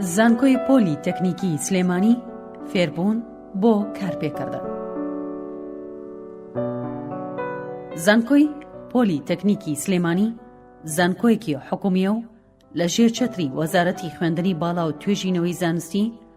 زانکۆی پۆلی تەکنیکی سلێمانی فێربوون بۆ کارپێکردن زانکۆی پۆلی تەکنیکی سلێمانی زانکۆیەکی حکومیە و لە ژێر چەتری وەزارەتی خوێندنی باڵا و توێژینەوەی زانستی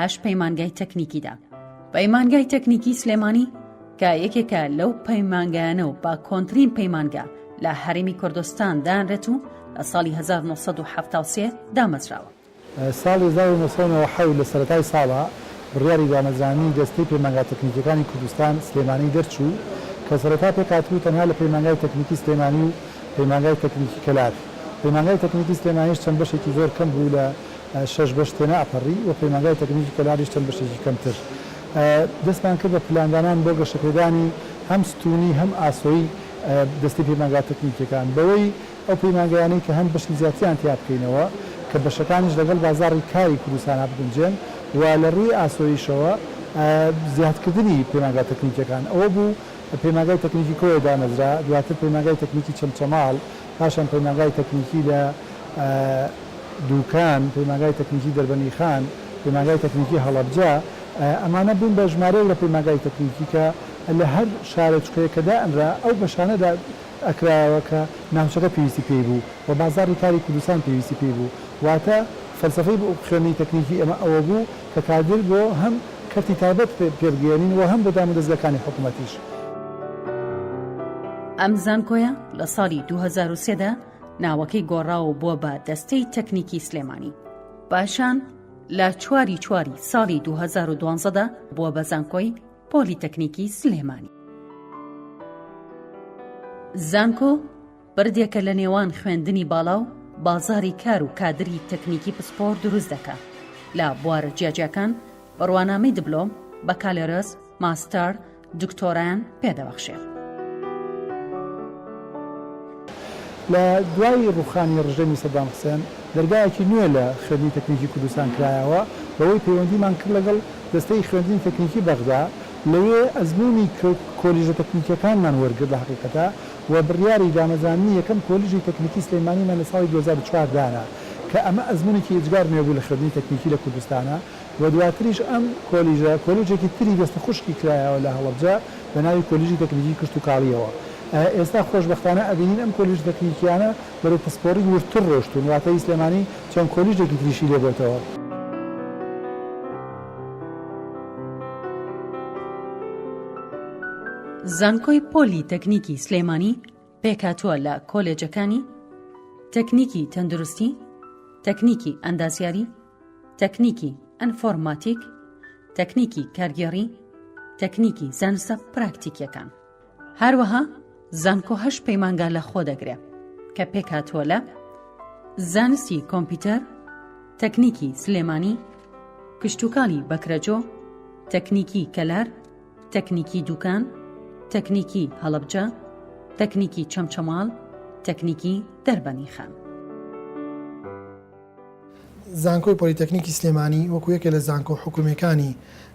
هەشت پەیمانگای تەکنیکیدا پەیمانگای تەکنیکی سلێمانی کە یەکێکە لەو پەیمانگایانە و با کۆنترین پەیمانگا لە هەرمی کوردستان دانرێت و لە ساڵی 1970 دامەزراوە. ساڵی 1997 لە سەرەتای ساڵا بڕیاری دامەزرانی دەستەی پەیمانگا تەکنیکیەکانی کوردستان سلێمانی دەرچوو کە سەرەتا پێکهاتبوو تەنها لە پەیمانگای تەکنیکی سلێمانی و پەیمانگای تەکنیکی کەلار پەیمانگای تەکنیکی سلێمانیش چەند بەشێکی زۆر کەم بوو لە شەش بەش تێناپەڕی و پەیمانگای تەکنیکی کەلار-یش چەند بەشێکی کەمتر. دەستمان کرد بە پلاندانان بۆ گەشەپێدانی هەم ستوونی هەم ئاسۆی دەستەی پەیمانگا تەکنیکییەکان بەوەی ئەو پەیمانگایانەی کە هەن بەشی زیاتریان تیا بکەینەوە کە بەشەکانیش لەگەڵ بازاڕی کاری کوردستانا بگونجێن و لە ڕووی ئاسۆییشەوە زیادکردنی پەیمانگا تەکنیکییەکان ئەوە بوو پەیمانگای تەکنیکی کۆیە دامەزرا دواتر پەیمانگای تەکنیکی چەمچەماڵ پاشان پەیمانگای تەکنیکی لە دوکان، پەیمانگای تەکنیکی دەربەنیخان، پەیمانگای تەکنیکی هەڵەبجە، ئەمانە بوون بە ژمارەیەک لە پەیمانگای تەکنیکی کە لە هەر شارۆچکەیەک کە دائەنرا ئەو بەشانەدا ئەکرایەوە کە ناوچەکە پێویستی پێی بوو و بازاڕی کاری کوردستان پێویستی پێی بوو واتە فەلسەفەی خوێندنی تەکنیکی ئێمە ئەوە بوو کە کادر بۆ هەم کەرتی تایبەت پێ بگەیەنین و هەم بۆ دامودەزگاکانی حکوومەتیش. ئەم زانکۆیە لە ساڵی دوو هەزار و سێ دا ناوەکەی گۆڕا و بووە بە دەستەی تەکنیکی سلێمانی. پاشان لە چواری چواری ساڵی دوو هەزار و دوازدە دا بووە بە زانکۆی پۆلیتەکنیکی سلێمانی. زانکۆ بەردێکە لە نێوان خوێندنی باڵا و بازاری کار و کادری تەکنیکی پسپۆر دروست دەکا لە بوارە جیاجیاکان بڕوانامەی دبلۆم بەکالێرس ماستەر دکتۆرایان پێدەبەخشێ. لە دوای ڕووخانی ڕژێمی سەدام حسێن دەرگایەکی نوێ لە خوێندنی تەکنیکی کوردستان کرایەوە بەوەی پەیوەندیمان کرد لەگەڵ دەستەی خوێندنی تەکنیکی بەغدا لەوێ ئەزموونی کۆلیژە تەکنیکیەکانمان وەرگرت لە هەقیقەتا و بڕیاری دامەزراندنی یەکەم کۆلیژی تەکنیکی سلێمانیمان لە ساڵی دوو هەزار و چوار دانا کە ئەمە ئەزموونێکی ئێجگار نوێ بوو لە خوێندنی تەکنیکی لە کوردستانا و دواتریش ئەم کۆلیژە کۆلوجێکی تری دەستە خوشکی کرایەوە لە هەڵەبجە بە ناوی کۆلیژی تەکنیکی کشتوکاڵییەوە ئێستا خۆشبەختانە ئەبینین ئەم کۆلیژە تەکنیکییانە بەرەو پسپۆڕی وردتر ڕۆشتوون واتە هی سلێمانی چەند کۆلیژێکی تریشی لێ بۆتەوە. زانکۆی پۆلی تەکنیکی سلێمانی پێکهاتووە لە کۆلێجەکانی، تەکنیکی تەندروستی، تەکنیکی ئەندازیاری، تەکنیکی ئەنفۆرماتیک، تەکنیکی کارگێڕی، تەکنیکی زانستە پراکتیکیەکان. هەروەها زانکۆ هەش پەیمانگا لە خۆ دەگرێ کە پێکهاتووە لە زانستی کۆمپیوتەر، تەکنیکی سلێمانی، کشتوکاڵی بەکرەجۆ، تەکنیکی کەلار، تەکنیکی دووکان، تەکنیکی هەڵەبجە، تەکنیکی چەمچەماڵ، تەکنیکی دەربەنی خان. زانکۆی پۆلیتەکنیکی سلێمانی وەکو یەکێ لە زانکۆ حکومیەکانی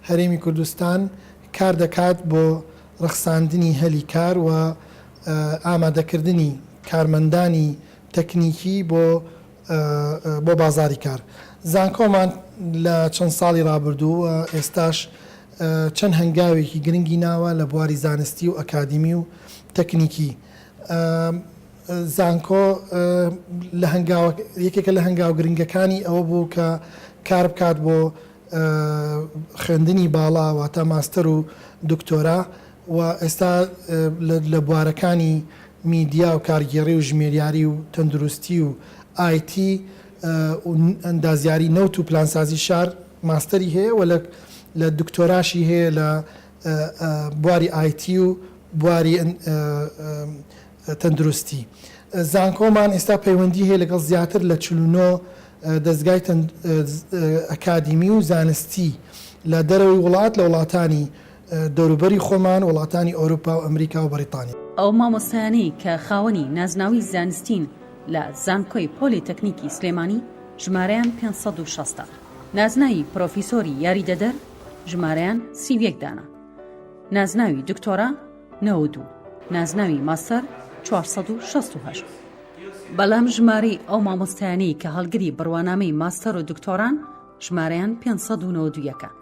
هەرێمی کوردستان کار دەکات بۆ رەخساندنی هەلی کار و ئامادەکردنی کارمەندانی تەکنیکی بۆ بۆ بازاڕی کار. زانکۆمان لە چەند ساڵی ڕابردوو و ئێستاش چەند هەنگاوێکی گرنگی ناوە لە بواری زانستی و ئەکادیمی و تەکنیکی. زانکۆ لە هەنگاوە یەکێکە لە هەنگاو گرنگەکانی ئەوە بوو کە کار بکات بۆ خوێندنی باڵا واتە ماستەر و دکتۆرا و ئێستا لە بوارەکانی میدیا و کارگێڕی و ژمێریاری و تەندروستی و ئای تی و ئەندازیاری نەوت و پلانسازی شار ماستەری هەیە و لە دکتۆراشی هەیە لە بواری ئای تی و بواری تەندروستی. زانکۆمان ئێستا پەیوەندی هەیە لەگەڵ زیاتر لە چل و نۆ دەزگای ئەکادیمی و زانستی لە دەرەوەی وڵات لە وڵاتانی دەوروبەری خۆمان، وڵاتانی ئەوروپا و ئەمریکا و بەڕیتانیا. ئەو مامۆستایانەی کە خاوەنی نازناوی زانستین لە زانکۆی پۆلی تەکنیکی سلێمانی ژمارەیان پێنج سەد و شەست ە، نازناوی پرۆفیسۆری یاریدەدەر ژمارەیان سی و یەک دانە، نازناوی دکتۆرا نەوەد و نازناوی ماستەر چوار سەد و شەست و هەشت، بەلام ژمارەی ئەو مامۆستایانەی کە هەڵگری بروانامەی ماستەر و دکتۆران ژمارەیان پێنج سەد و نەوەد و یەک ە.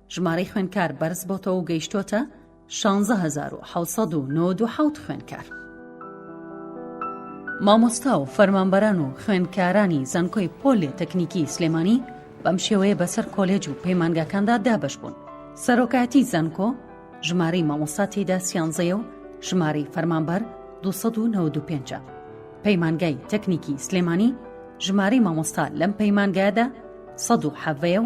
ژمارەی خوێندکار بەرز بۆتەوە و گەیشتۆتە شانزە هەزار و حەوت سەد و نەوەد و حەوت خوێندکار. مامۆستا و فەرمانبەران و خوێندکارانی زانکۆی پۆلێ تەکنیکی سلێمانی بەم شێوەیە بەسەر کۆلێج و پەیمانگاکاندا دابەش بوون سەرۆکایەتی زانکۆ ژمارەی مامۆستا تێدا سیانزەیە و ژمارەی فەرمانبەر 1995 پەیمانگای تەکنیکی سلێمانی ژمارەی مامۆستا لەم پەیمانگایدا 1970 و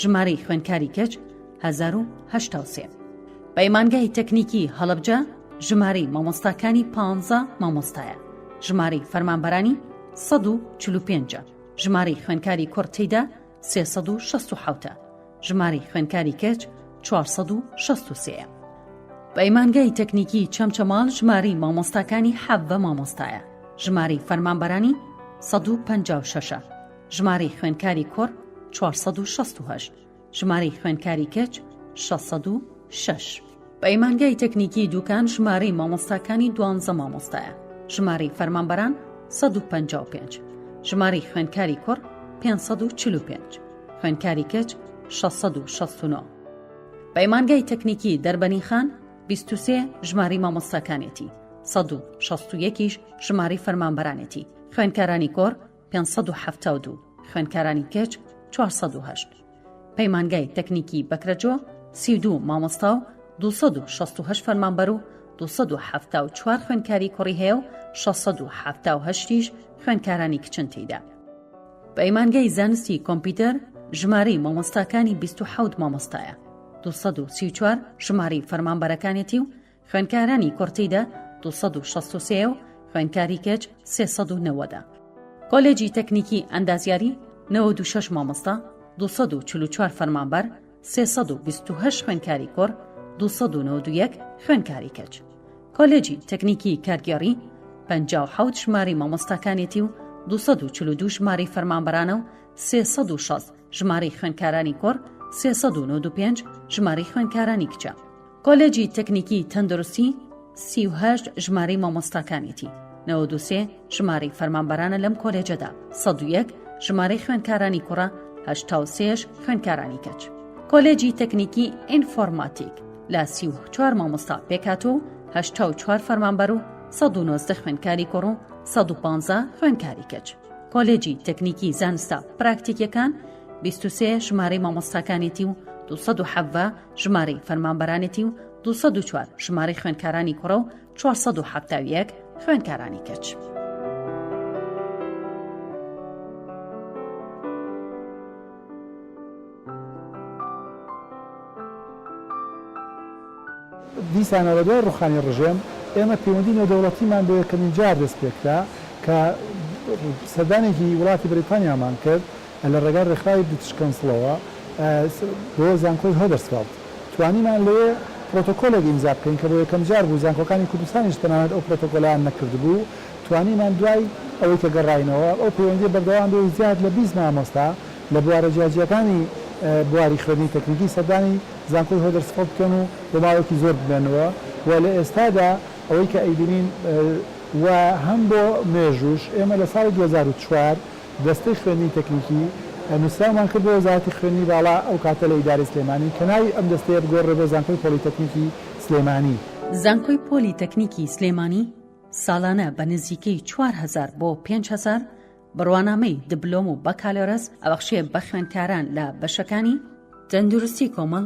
ژمارەی خوێندکاری کچ 1970. پەیمانگای تەکنیکی هەڵەبجە ژمارەی مامۆستاکانی پ مامۆستایە ژمارەی فەرمانبەرانی 1940 ژمارەی خوێندکاری کوڕ تێدا 360 ژمارەی خوێندکاری کەچ 463 پەیمانگای تەکنیکی چەمچەماڵ ژمارەی مامۆستاکانی حەب بە مامۆستایە ژمارەی فەرمانبەرانی 156 ژمارەی خوێندکاری کوڕ چوار سەد و شەست و هەشت، ژمارەی خوێندکاری کچ شەش سەد و شەش. پەیمانگای تەکنیکی دوکان ژمارەی مامۆستاکانی دوانزە مامۆستایە، ژمارەی فەرمانبەران سەد و پەنجا و پێنج، ژمارەی خوێندکاری کوڕ پێنج سەد و چل و پێنج، خوێندکاری کچ شەش سەد و شەست و نۆ. پەیمانگای تەکنیکی دەربەنیخان بیست و سێ ژمارەی مامۆستاکانێتی، سەد و شەست و یەکیش ژمارەی فەرمانبەرانێتی، خوێندکارانی کۆڕ پێنج سەد و حەفتا و دوو، خوێندکارانی کچ چوار سەد و هەشت، پەیمانگای تەکنیکی بەکرەجۆ سی و دوو مامۆستا و دوو سەد و شەست و هەشت فەرمانبەر و دوو سەد و حەفتا و چوار خوێندکاری کوڕی هەیە و شەش سەد و حەفتا و هەشتیش خوێندکارانی کچن تێیدا. پەیمانگای زانستی کۆمپیوتەر ژمارەی مامۆستاکانی بیست و حەوت مامۆستایە، دوو سەد و سی و چوار ژمارەی فەرمانبەرەکانێتی و خوێندکارانی کوڕ تیدا دوو سەد و شەست و سێ و خوێندکاری کچ سێ سەد و نەوەدە. کۆلێجی تەکنیکی ئەندازیاری نەوەد و شەش مامۆستا، دوو سەد و چل و چوار فەرمانبەر، سێ سەد و بیست و هەشت خوێندکاری کوڕ، دوو سەد و نەوەد و یەک خوێندکاری کچ. کۆلێجی تەکنیکی کارگێڕی پەنجا و حەوت ژمارەی مامۆستاکانێتی و دوو سەد و چل و دوو ژمارەی فەرمانبەرانە و سێ سەد و شەست ژمارەی خوێندکارانی کوڕ، سێ سەد و نەوەد و پێنج ژمارەی خوێندکارانی کچە. کۆلێجی تەکنیکی تەندروستی سی و هەشت ژمارەی مامۆستاکانێتی نەوە دووسێ ژمارەی فەرمانبەرانە لەم کۆلێجەدا سەد و یەک ژمارەی خوێندکارانی کوڕە هەشتا و سێش خوێندکارانی کەچ کۆلێجی تەکنیکی ئینفۆرماتیک لە سی و چوار مامۆستا پێکات و هەشتا و چوار فەرمانبەر و سەد و نۆزدە خوێندکاری کوڕ و سەد و پانزە خوێندکاری کەچ کۆلێجی تەکنیکی زانستە پراکتیکەکان بیست و سێ ژمارەی مامۆستاکانێتی و دو سەد و حەڤە ژمارەی فەرمانبەرانێتی و 204 ژمارەی خوێندکارانی کوڕە و 470 خوێندکارانی کەچ. دیسانە لە دوای ڕوخانی ڕژێم ئێمە پەیوەندی نێودەوڵەتیمان بۆ یەکەمین جار دەست پێکرا کە سەردانێکی وڵاتی بریتانیامان کرد لە ڕێگای ڕێکخراوی بریتش کەونسڵەوە بۆ زانکۆی هۆدەرسفێڵد توانیمان لەوێ پرۆتۆکۆلێک ئیمزا بکەین کە بۆ یەکەم جار بوو زانکۆکانی کوردستانیش تەنانەت ئەو پرۆتۆکۆلەیان نەکردبوو توانیمان دوای ئەوەی کە گەڕاینەوە ئەو پەیوەندیە بەردەوام بێ و زیاد لە بیست مامۆستا لە بوارە جیاجیاکانی بواری خوێندنی تەکنیکی سەردانی زانکۆی هۆدەرسفڵد بکەن و بۆ ماوەیەکی زۆر بمێنەوە و لە ئێستادا ئەوەی کە ئەیبینین و هەم بۆ مێژووش ئێمە لە ساڵی دوو هەزار و چوار دەستەی خوێندنی تەکنیکی، نووسراومان کرد بۆ وەزارەتی خوێندنی باڵا، ئەو کاتە لە ئیدارەی سلێمانی، کە ناوی ئەم دەستەیە بگۆڕدرێت بۆ زانکۆی پۆلیتەکنیکی سلێمانی. زانکۆی پۆلی تەکنیکی سلێمانی ساڵانە بە نزیکەی چوار هەزار بۆ پێنج هەزار بڕوانامەی دبلۆم و بەکالۆرەس ئەبەخشێ بە خوێندکاران لە بەشەکانی، تەندروستی کۆمەڵ،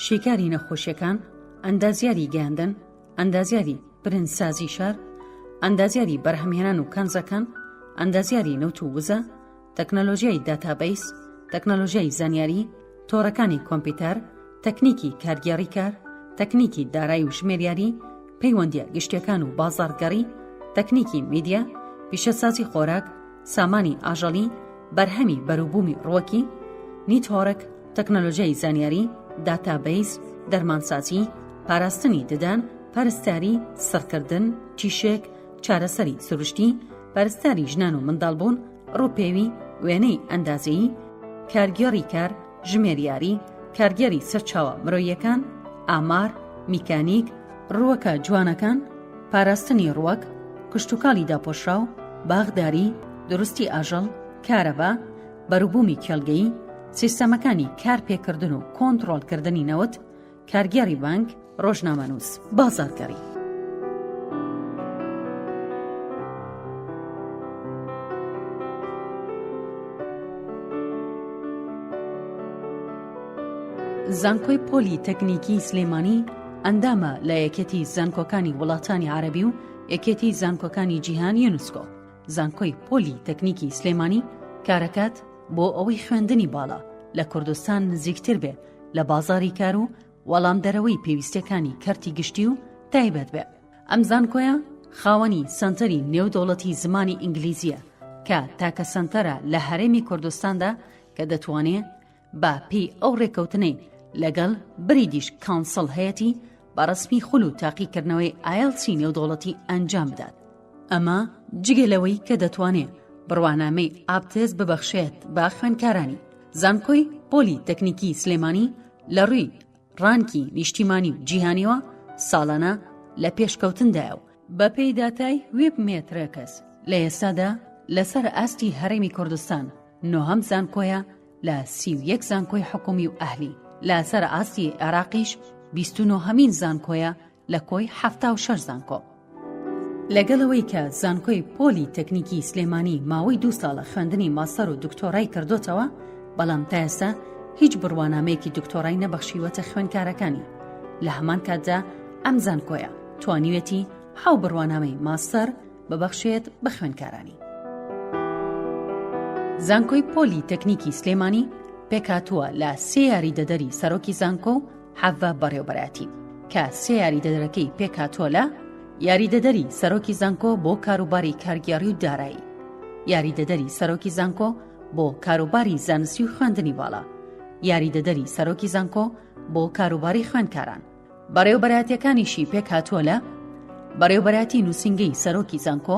شیکاری نەخۆشیەکان، ئەندازیاری گەیاندن، ئەندازیاری برنجسازی شار، ئەندازیاری بەرهەمهێنان و کەنزەکان، ئەندازیاری نەوت و وزە، تەکنەلۆژیای داتابەیس، تەکنەلۆژیای زانیاری، تۆڕەکانی کۆمپیوتەر، تەکنیکی کارگێڕی کار، تەکنیکی دارایی و ژمێریاری، پەیوەندیە گشتیەکان و بازاڕگەڕی، تەکنیکی میدیا، پیشەسازی خۆراک، سامانی ئاژەڵی، بەرهەمی بەروبوومی ڕوەکی، نیتۆرک، تەکنەلۆژیای زانیاری، داتابەیس، دەرمانسازی، پاراستنی ددان، پەرستاری، سڕکردن، تیشێک، چارەسەری سروشتی، پەرستاری ژنان و منداڵبوون، ڕووپێوی، وێنەی ئەندازەیی، کارگێڕی کار، ژمێریاری، کارگێڕی سەرچاوە مرۆییەکان، ئامار، میکانیک، ڕووەکە جوانەکان، پاراستنی ڕووەک، کشتوکاڵی داپۆشراو، باخداری، دروستی ئاژەڵ، کارەبا، بەروبوومی کێڵگەیی، سیستەمەکانی کارپێکردن و کۆنتڕۆڵکردنی نەوت، کارگێڕی بانک، ڕۆژنامەنووس، بازاڕگەڕی. زانکۆی پۆلی تەکنیکی سلێمانی ئەندامە لە یەکێتی زانکۆکانی وڵاتانی عربی و یەکێتی زانکۆکانی جیهان یونسکۆ زانکۆی پۆلی تەکنیکی سلێمانی کارەکات بۆ ئەوەی خوێندنی باڵا لە کوردستان نزیکتر بێ لە بازاری کار و وەڵامدەرەوەی پێویستەکانی کەرتی گشتی و تایبەت بێ ئەم زانکۆیە خاوەنی سنتەری نێودەوڵەتی زمانی ئینگلیزیە کە تاکە سنتەرە لە هەرێمی کوردستاندا کە دەتوانێ بە پێی ئەو ڕێکەوتنەی لەگەڵ بریدیش کانسڵ هەیەی بەڕسمی خول و تاقیکردنەوەی ئایلسی نێودەوڵەتی ئەنجام بدات ئەمە جگە لەوەی کە دەتوانێ بڕوانامەی ئابتێس ببەخشێت بە خوێندکارانی زانکۆی پۆلی تەکنیکی سلێمانی لە ڕووی ڕانکی نیشتیمانی و جیهانیەوە ساڵانە لە پێشکەوتندایە و بەپێی داتای وێب مێترەکەس لە ئێستادا لەسەر ئاستی هەرێمی کوردستان نۆهەم زانکۆیە لە سی و یەک زانکۆی حکومی و ئەهلی لەسەر ئاستی عێراقیش بیست و نۆهەمین زانکۆیە لە کۆی حەفتا و شەش زانکۆ. لەگەڵ ئەوەی کە زانکۆی پۆلی تەکنیکی سلێمانی ماوەی دوو ساڵە خوێندنی ماستەر و دکتۆرای کردۆتەوە، بەڵام تا ئێستا هیچ بڕوانامەیەکی دکتۆرای نەبەخشیوەتە خوێندکارەکانی، لە هەمان کاتدا ئەم زانکۆیە توانیوێتی حەو بڕوانامەی ماستەر ببەخشێت بە خوێندکارانی. زانکۆی پۆلی تەکنیکی سلێمانی پێکهاتووە لە سێ یاریدەدەری سەرۆکی زانکۆ و، حەڤە بەڕێوبەرایەتی کە سێ یاریدەدەرەکەی پێکهاتووە لە یاریدەدەری سەرۆکی زانکۆ بۆ کاروباری کارگێڕی و دارایی یاریدەدەری سەرۆکی زانکۆ بۆ کاروباری زانستی و خوێندنی باڵا یاریدەدەری سەرۆکی زانکۆ بۆ کاروباری خوێندکاران بەڕێوبەراتیەکانیشی پێکهاتووە لە بەڕێوبەراتی نووسنگەی سەرۆکی زانکۆ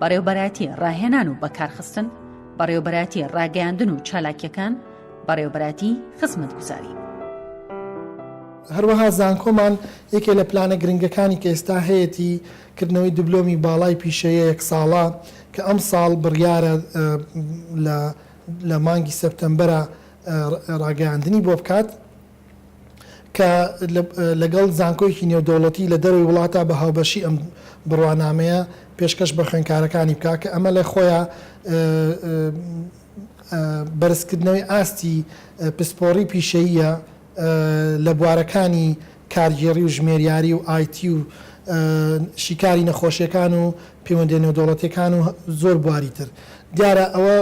بەڕێوبەرایەتی ڕاهێنان و بەکارخستن بەڕێوبەرایەتی ڕاگەیاندن و چالاکیەکان بەڕێوبەراتی خزمەت گوزاری. هەروەها زانکۆمان یەکێ لە پلانە گرنگەکانی کە ئێستا هەیەتی کردنەوەی دبلۆمی باڵای پیشەیە یەک ساڵە کە ئەمساڵ بڕیارە لە لە مانگی سەپتەمبەرا ڕاگەیاندنی بۆ بکات. کە لەگەڵ زانکۆیەکی نێودەوڵەتی لە دەرەوەی وڵاتە بە هاوبەشی ئەم بڕوانامەیە پێشکەش بە خوێندکارەکانی بکا کە ئەمە لە خۆیا بەرزکردنەوەی ئاستی پسپۆڕی پیشەییە لە بوارەکانی کارگێڕی و ژمێریاری و IT و شیکاری نەخۆشیەکان و پەیوەندیە نێودەوڵەتیەکان و زۆر بواری تر دیارە ئەوە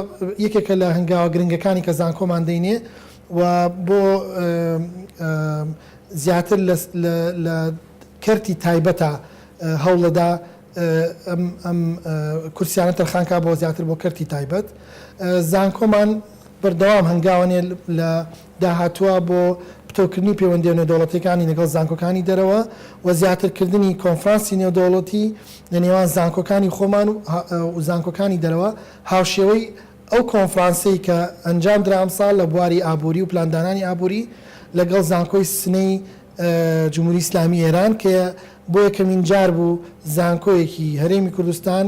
یەکێکە لە هەنگاوە گرنگەکانی کە زانکۆمان دەینێ و بۆ زیاتر لە کەرتی تایبەتە هەوڵەدا ئەم کورسیانە تەرخانکا بۆ زیاتر بۆ کەرتی تایبەت زانکۆمان بەردەوام هەنگاوەنێ لە داهاتووە بۆ پتەوکردنی پەیوەندیە نێودەوڵەتیەکانی لەگەڵ زانکۆکانی دەرەوە و زیاتر کردنی کۆنفرانسی نێودەوڵەتی لە نێوان زانکۆکانی خۆمان و زانکۆکانی دەرەوە هاوشێوەی ئەو کۆنفرانسەی کە ئەنجامدرا ئەمساڵ لە بواری ئابووری و پلاندانانی ئابووری لەگەڵ زانکۆی سنەی جمهوری ئیسلامی ئێران کە بۆ یەکەمین جار بوو زانکۆیەکی هەرێمی کوردستان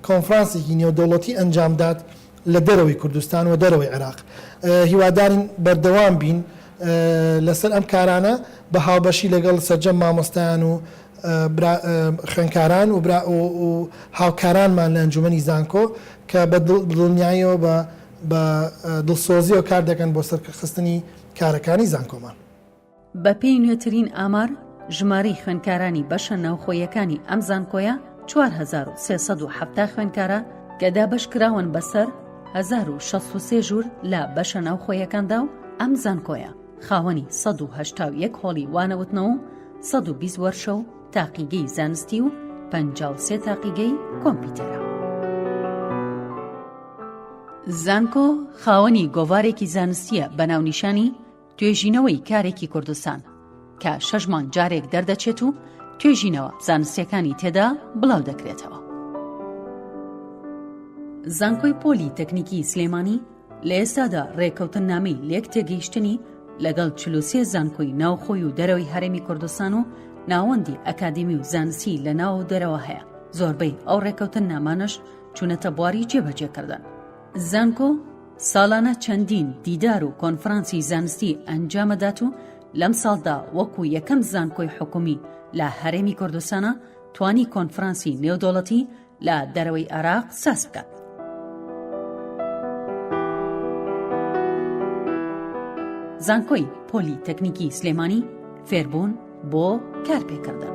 کۆنفرانسێکی نێودەوڵەتی ئەنجامدات لە دەرەوەی کوردستان و دەرەوەی عێراق هیوادارین بەردەوام بین لەسەر ئەم کارانە بە هاوبەشی لەگەڵ سەرجەم مامۆستایان و برا خوێندکاران و برا و هاوکارانمان لە ئەنجومەنی زانکۆ کە بە دڵنیایەوە بە بە دڵسۆزیەوە کار دەکەن بۆ سەرکەخستنی کارەکانی زانکۆمان. بە پێی نوێترین ئامار، ژمارەی خوێندکارانی بەشە ناوخۆیەکانی ئەم زانکۆیە چوار هەزار و سێ سەد و حەفتا خوێندکارە کە دابەش کراون بەسەر هەزار و شەست و سێ ژوور لە بەشە ناوخۆیەکاندا و ئەم زانکۆیە خاوەنی سەد و هەشتا و یەک هۆڵی وانەوتنەوە و سەد و بیست وەرشە و تاقیگەی زانستی و پەنجا و سێ تاقیگەی کۆمپیوتەرە. زانکۆ خاوەنی گۆڤارێکی زانستیە بە ناونیشانی توێژینەوەی کارێکی کوردستان کە شەژمان جارێک دەردەچێت و توێژینەوە زانستیەکانی تێدا بڵاو دەکرێتەوە. زانکۆی پۆلی تەکنیکی سلێمانی لە ئێستادا ڕێکەوتننامەی لێک تێگەیشتنی لەگەڵ چل و سێ زانکۆی ناوخۆی و دەرەوەی هەرێمی کوردستان و ناوەندی ئەکادیمی و زانستی لە ناو و دەرەوە هەیە زۆربەی ئەو ڕێکەوتن نامانش چونەتە بواری جێبەجێکردن زانکۆ ساڵانە چەندین دیدار و کۆنفرانسی زانستی ئەنجامەدات و لەم ساڵدا وەکو یەکەم زانکۆی حکومی لە هەرێمی کوردستانە توانی کۆنفرانسی نێودوڵەتی لە دەرەوەی عێراق ساز بکات. زانکۆی پۆلی تەکنیکی سلێمانی فێربوون بۆ کارپێکردن.